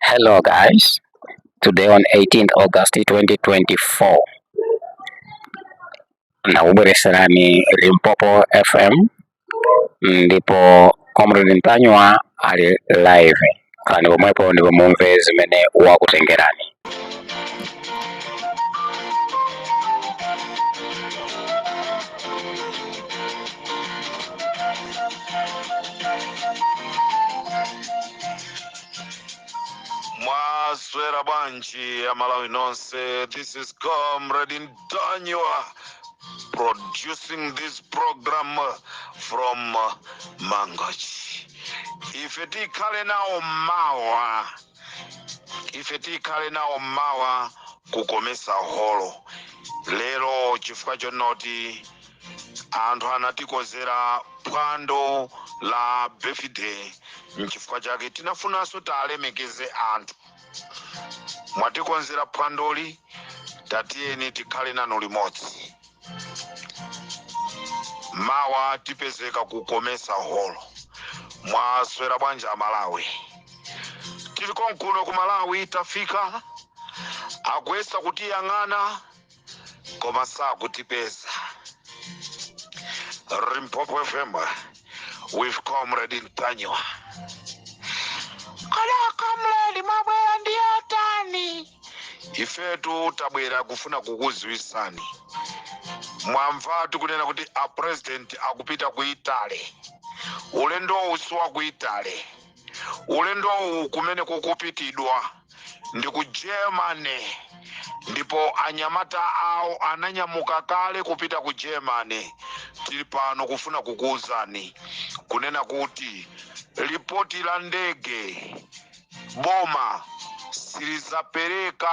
Hello guys, today on 18th August 2024 ndakubweretserani Limpopo FM ndipo Comrade Ntanyiwa ali live khalani pomwepo ndipo mumve zimene wakutengerani. mwaswera bwanji amalawi nonse this is comrade ntanyiwa producing this program from mangochi ife tikhale nawo mawa ife tikhale nawo mawa kukomesa holo lero chifukwa chonoti anthu anatikonzera phwando la birthday nchifukwa chake tinafunanso tiwalemekeze anthu mwatikonzera phwandoli tatiyeni tikhale nanu limodzi mawa tipezeka ku komesa holo mwaswera bwanji amalawi tili konkuno ku malawi tafika akuyesa kutiyang'ana koma sakutipeza limpopo fm with comrade ntanyiwa kodi a comrade mwabwera ndi yotani ifetu tabwera kufuna kukudziwitsani mwamva tikunena kuti a president akupita ku italy ulendowu si wa ku italy ulendowu kumene kukupitidwa ndi ku germany ndipo anyamata awo ananyamuka kale kupita ku germany tili pano kufuna kukuwuzani kunena kuti lipoti la ndege boma silidzapereka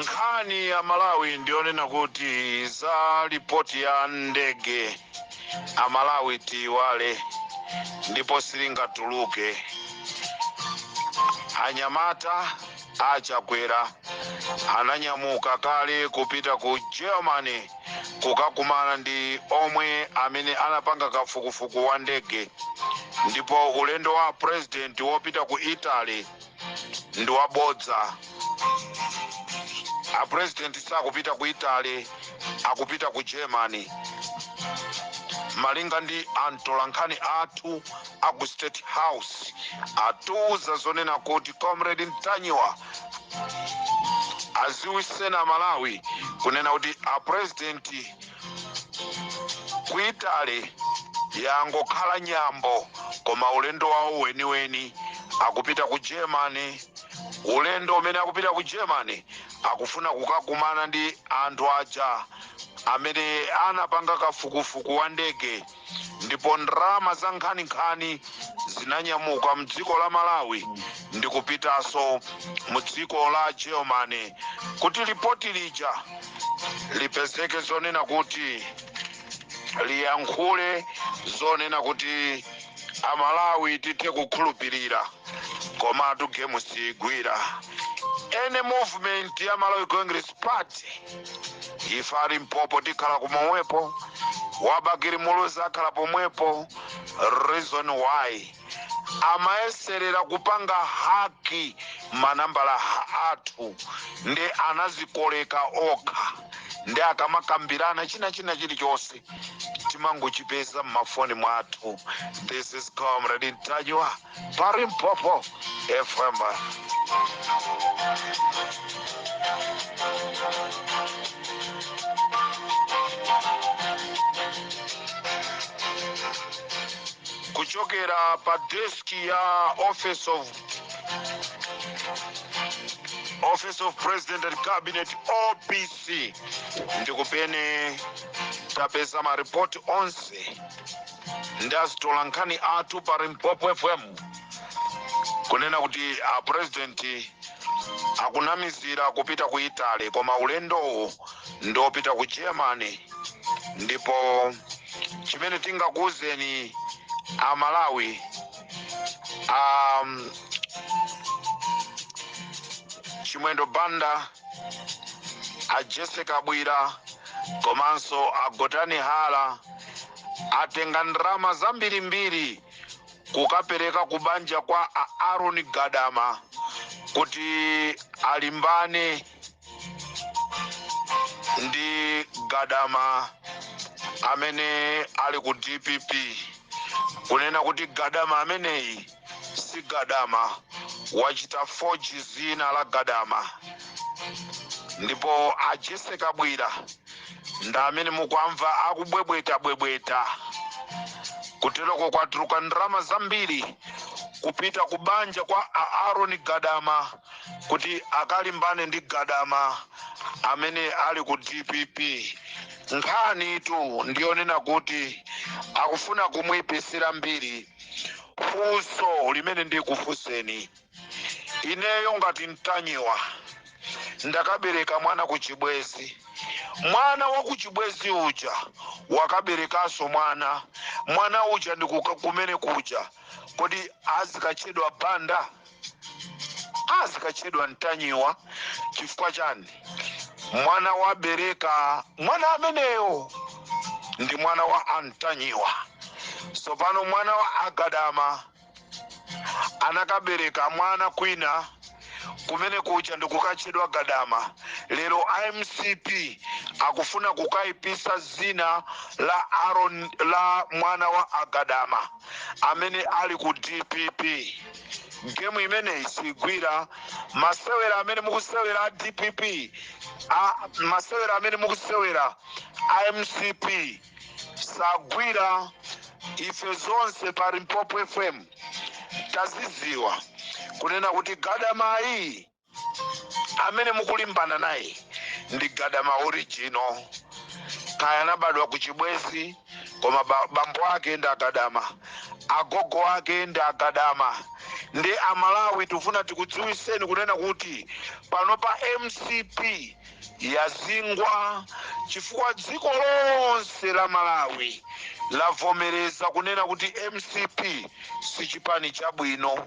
nkhani amalawi ndiyonena kuti za lipoti ya ndege amalawi tiiwale ndipo silingatuluke anyamata A Chakwera ananyamuka kale kupita ku Germany kukakumana ndi omwe amene anapanga kafukufuku wa ndege ndipo ulendo wa president wopita ku Italy ndi wabodza. A president sakupita ku Italy, akupita ku Germany. Malinga ndi amtolankhani athu A ku State House atiuza zonena kuti Comrade Ntanyiwa aziwisenso Amalawi kunena kuti a President ku Italy yangokhala nyambo koma ulendo wawo weniweni akupita ku Germany. Ulendo umene akupita ku Germany akufuna kukakumana ndi anthu aja amene anapanga kafukufuku wa ndege ndipo ndalama za nkhaninkhani zinanyamuka mdziko la Malawi ndikupitaso mu dziko la Germany kuti lipoti lija lipezeke zonena kuti liyankhule zonena kuti Amalawi tithe kukhulupilira komatu game siigwira any movement ya Malawi Congress Party. ife a Limpopo tikhala pomwepo wa Bakili Muluzi akhala pomwepo reason why amayeserera kupanga haki manambala athu ndi anazikoleka okha ndi akamakambirana china chilichonse timangochipeza m'mafoni mwathu this is comrade ntanyiwa Pa Limpopo FM. kuchokera pa deski ya office of president and cabinet opc ndikumene tapeza maripoti onse ndi azitolankhani athu pa limpopo fm kunena kuti a president akunamizira kupita ku italy koma ulendowu ndi opita ku germany ndipo chimene tingakuwuzeni a malawi um, chimwendo banda a jessie kabwila komanso a gotani hara atenga ndalama zambirimbiri kukapereka kubanja kwa a Aaron Gadama kuti alimbane ndi Gadama amene ali ku DPP kunena kuti Gadama ameneyi si gadama wachita foji zina la gadama ndipo a Jessie Kabwila ndi amene mukwamva akubwebweta bwebweta kutereko kwatuluka ndalama zambiri kupita ku banja kwa a Aaron Gadama kuti akalimbane ndi Gadama amene ali ku DPP nkhanitu ndiyonena kuti akufuna kumuipitsira mbiri funso limene ndikufunseni ineyo ngati mtanyiwa ndakabereka mwana kuchibwezi mwana wa kuchibwezi uja wakaberekanso mwana mwana uja ndikuka kumene kuja kodi azikatchedwa banda azikatchedwa mtanyiwa chifukwa chani mwana wabereka mwana ameneyo ndi mwana wa antanyiwa tsopano mwana wa agadama anakabereka mwana kwina kumene kuja ndikukatchedwa gadama lero a mcp akufuna kukaipisa zina la aron la mwana wa agadama amene ali ku dpp gemu imeneyi sigwira masewera amene mukusewera a dpp masewera amene mukusewera a mcp sagwira ife zonse pa limpopo fm taziziwa kunena kuti gadamayi amene mukulimbana naye ndi gadama original kaya anabadwa ku chibwezi koma bambo ake ndi agadama agogo ake ndi agadama ndi amalawi tifuna tikudziwiseni kunena kuti panopa mcp yazingwa chifukwa dziko lonse la malawi lavomereza kunena kuti mcp si chipani chabwino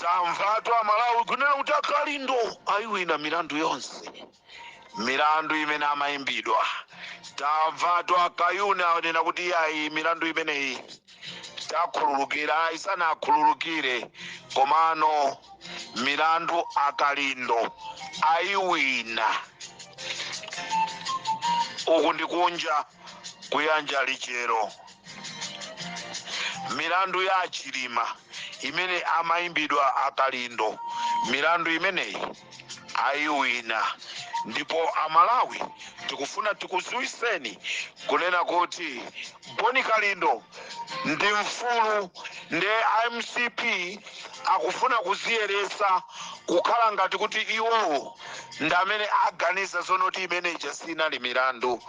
Tamvatu amalawi kunena kuti akalindo ayiwina milandu yonse milandu imene amayimbidwa tamvatu akayuni anena kuti iyayi milandu imeneyi takhululukira ayi sanakhululukire komano milandu akalindo ayiwina uku ndikunja kuyanja lichero milandu ya achilima imene amayimbidwa akalindo milandu imeneyi ayiwina ndipo amalawi tikufuna tikuziwiseni kunena kuti boni kalindo ndi mfulu ndi a mcp akufuna kuziyeretsa kukhala ngati kuti iwowo ndi amene aganiza zoona kuti imene ija sinali milandu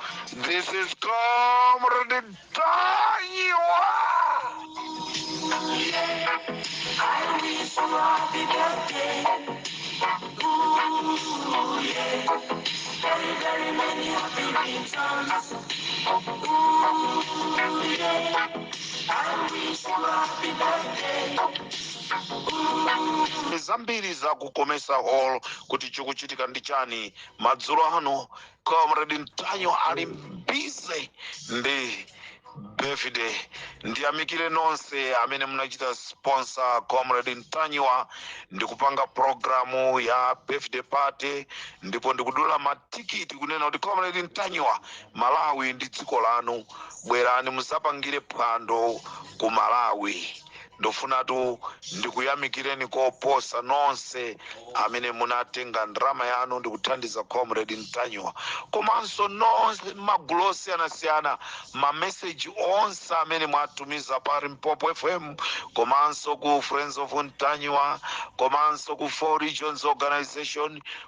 this is comrade tanyiwa zambiri za ku comesa hall kuti chikuchitika ndi chani madzulo ano comrade ntanyiwa ali busy ndi birthday ndiyamikire nonse amene munachita sponsor comrade ntanyiwa ndikupanga programu ya birthday party ndipo ndikudula matikiti kunena kuti comrade ntanyiwa malawi ndi dziko lanu Bwerani mudzapangire phwando ku Malawi. Ndikufunatu ndikuyamikireni koposa nonse amene munatenga ndalama yanu ndikuthandiza Comrade Ntanyiwa komanso nonse mmagulu osiyanasiyana, ma message onse amene mwatumiza pa Limpopo FM komanso ku Friends of Ntanyiwa komanso ku 4 Regions Organisation,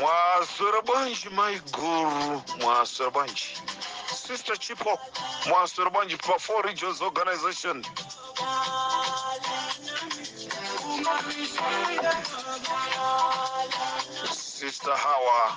mwaswera bwanji mai guru mwaswera bwanji sister chipo mwaswera bwanji pa four regions organization sister hawa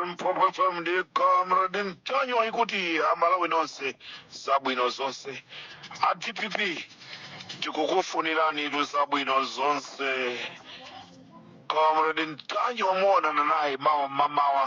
Limpopo FM ndi Comrade Ntanyiwa ikuti amalawi nonse zabwino zonse a dpp tikukufuniranitu zabwino zonse comrade Ntanyiwa muonana naye mawa mmamawa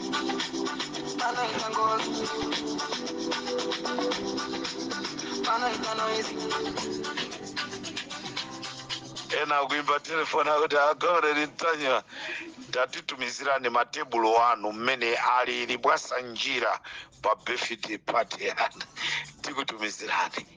Panaita ngozi, panaita noise. ena akuimba telefoni akuti a Comrade Ntanyiwa tatitumizirani matebulo anu mmene alili mwasanjira pa birthday party yanu tikutumizirani